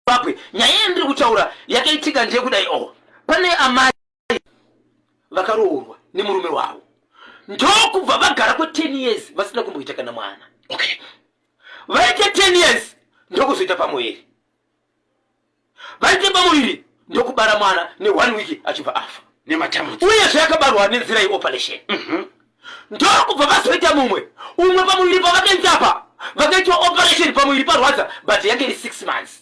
Zimbabwe nyaya yandiri kutaura yakaitika ndeyekudai o oh, pane amai vakaroorwa nemurume wavo ndokubva vagara kwe 10 years vasina kumboita kana mwana okay vaite 10 years ndokuzoita pamuviri vaite pamuviri ndokubara mwana ne one week achibva afa nematambudziko uye zvayakabarwa nenzira yeoperation mm -hmm. ndokubva vazoita mumwe umwe pamuviri pavakaita apa vakaitwa operation pamuviri parwadza but yange iri six months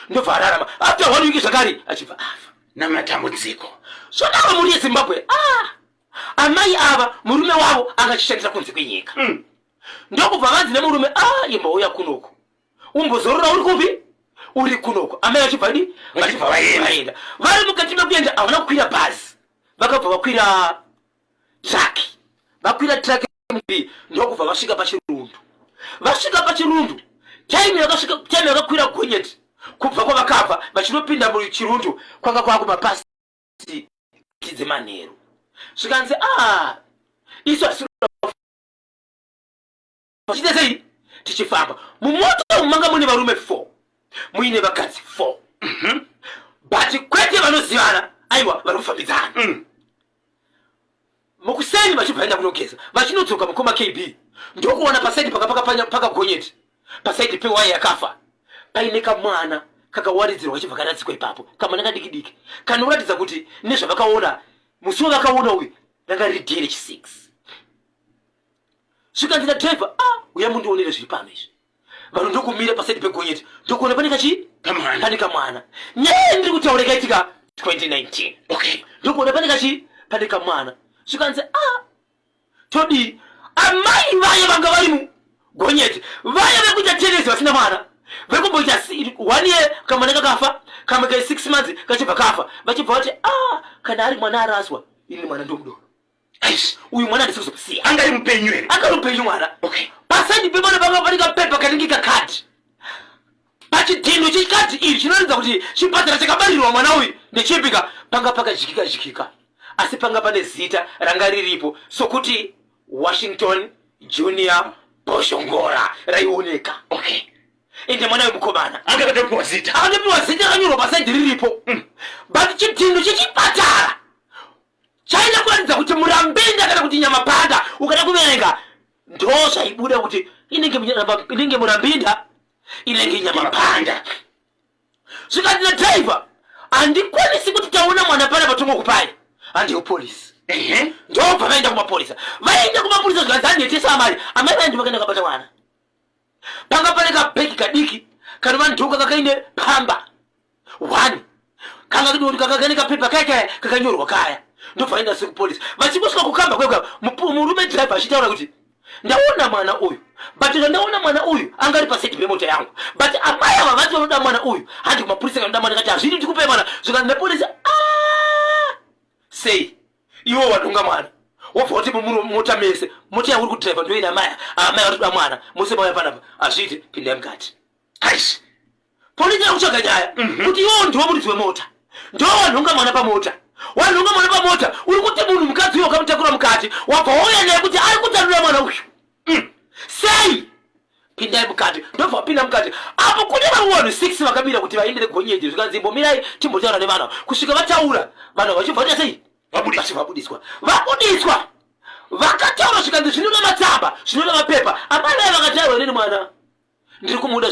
ndobva ararama after one week zvakare achibva afa namatambudziko zvodaro mhuri yezimbabwe ah! amai ava murume wavo anga achishandisa kunze kwenyika mm. ndokubva vanzi nemurume a ah, imbouya kunoku umbozorora uri kupi uri kunoku amai vachibva di vachibva vaenda vari mukati mekuenda havana kukwira bhazi vakabva vakwira truck vakwira truck mbi ndokubva vasvika pachirundu vasvika pachirundu time yakasvika time yakakwira gonyeti kubva kwavakabva vachinopinda muchirundu kwanga kwava kumapasi dzemanheru zvikanzi a ah, isu asi tichiita sei tichifamba mumoto umu manga mune varume four muine vakadzi four mhm. but kwete vanozivana aiwa vari kufambidzana mm. mukuseni vachibva vaenda kunogeza vachinodzoka mukoma kb ndokuona pasaidi paka pakagonyeti pasaidi pewaya yakafa paine kamwana kakawaridzirwa kachibva karatsikwa ipapo kamwana kadiki diki kanoratidza kuti nezvavakaona musi wavakaona uyu ranga riri dere chisix zvikanzira driver a ah, uya mundionere zviri pano izvi vanhu ndokumira pasaidi pegonyeti ndokuona pane kachi pane kamwana nyaya ndiri kutaura ikaitika 2019 okay ndokuona pane kachi pane kamwana zvikanzi a ah, todii amai vaye vanga vari mu gonyeti vaye vekuita tenesi vasina mwana vekumboita one year kamwana kakafa kamwe kai six months kachibva kafa vachibva vati a ah, kana ari mwana araswa ini mwana ndomudoro Aish, uyu mwana ndisiri kuzomusiya. Anga ari mupenyu here? Anga ari mupenyu mwana. Okay. Paside pemwana panga pane kapepa kanenge kakadhi. Pachidhindo chekadhi iri chinoratidza kuti chipatara chakabarirwa mwana uyu ndechepika panga pakajikika jikika. Asi panga pane zita ranga riripo sokuti Washington Junior Boshongora raioneka. Okay. Ende mwana wemukomana anga akatopiwa zita. Akatopiwa zita rakanyorwa paside riripo. Mm. But chidhindo chechipatara chaida kuratidza kuti murambenda kana kuti nyamapanda ukada kuverenga ndo zvaibuda kuti inenge murambinda inenge nyamapanda zvikati na driver handikwanisi kuti taona mwana pana patongo kupai handiyo polisi ndobva vaenda kumapurisa vaenda kumapurisa zvikanzi handiyetesa amari amai vaendi vakaenda kabata mwana panga pane kabhegi kadiki kanova ndoka kakaine pamba one kanga kdoti kanga kane kapepa kaya kaya kakanyorwa kaya ndobva aenda sekupolisi vachingosvika kukamba kweka murume driver achitaura kuti ndaona mwana uyu but zvandaona mwana uyu anga ari paside pemota yangu but amai ava vati vanoda mwana uyu handi kumapurisa kanoda mwana kati hazvidi tikupe mwana zvikanzi nepolisi ah! sei iwo watonga mwana wobva kuti mota mese mota yauri kudriva ndoina amai amai vatoda mwana mose mauya panapa hazviiti pindai mukati aish pondinyaya kutsvaga nyaya mhm. kuti iwo ndiwo muridzi wemota ndo wanhonga mwana pamota wanhonga mwana pamota uri kuti munhu mukadzi uyo ukamutakura mukati wabva wauya naye kuti ari kutanura mwana uyu mm. sei pindai mukati ndobva wapinda mukati apo kune vamwe vanhu six vakamira kuti vaendere gonyeti zvikanzi imbomirai timbotaura nevanhu kusvika vataura vanhu vachibva vaita sei vabudiswa vabudiswa vakataura zvikanzi zvinona matsamba zvinona mapepa amai vaye vakataurwa neni mwana ndiri kumuda